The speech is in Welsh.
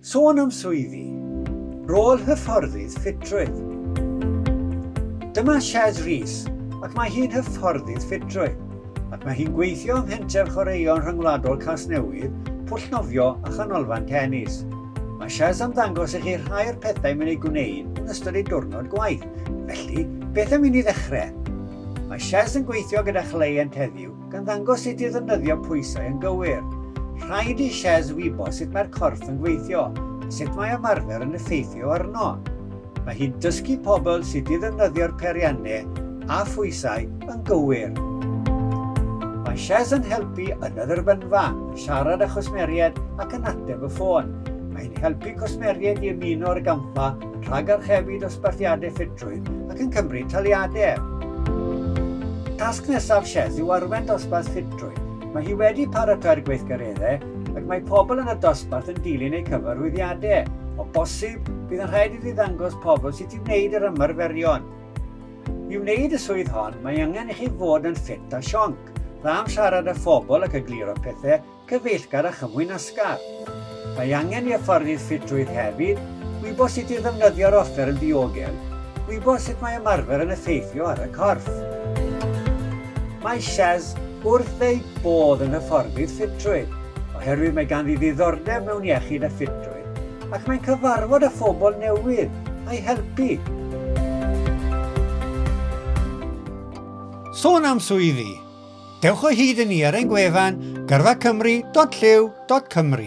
Sôn am swyddi, rôl hyfforddydd ffitrwydd. Dyma Shez Rees ac mae hi'n hyfforddydd ffitrwydd ac mae hi'n gweithio ym Mhenter Chwaraeon Rhyngwladol Casnewydd, Pwllnofio a Chanolfan Tenis. Mae Shez am ddangos i chi rhai o'r pethau mae'n ei gwneud yn ystod ei diwrnod gwaith, felly beth am i ni ddechrau? Mae Shez yn gweithio gyda chleient heddiw gan ddangos sut i ddefnyddio pwysau yn gywir. Rhaid i Shez wybod sut mae'r corff yn gweithio a sut mae ymarfer yn effeithio arno. Mae hi'n dysgu pobl sut i ddefnyddio'r peiriannau a phwysau yn gywir. Mae Shez yn helpu yn y dderbynfa, yn siarad â chwsmeriaid ac yn ateb y ffôn. Mae hi'n helpu cwsmeriaid i ymuno â'r gampfa yn rhagarchebu dosbarthiadau ffitrwydd ac yn cymryd taliadau er. Tasg nesaf Sheth yw arwain dosbarth ffitrwydd. Mae hi wedi paratoi'r gweithgareddau ac mae pobl yn y dosbarth yn dilyn eu cyfarwyddiadau. O bosib, bydd yn rhaid iddi ddangos pobl sut i wneud yr ymarferion. I wneud y swydd hon, mae angen i chi fod yn ffit a sionc, dda am siarad â phobl ac egluro pethau, Cyfeillgar a chyfwyn asgar. Mae angen i hyfforddydd ffitrwydd hefyd wybod sut i ddefnyddio'r offer yn ddiogel, gwybod sut mae ymarfer yn effeithio ar y corff. Mae Shaz wrth ei bodd yn hyfforddydd ffitrwydd oherwydd mae ganddi ddiddordeb mewn iechyd a ffitrwydd ac mae'n cyfarfod â phobl newydd a'i helpu. Sôn am swyddi, Dewch o hyd i ni ar ein gwefan gyrfacymru.llyw.cymru.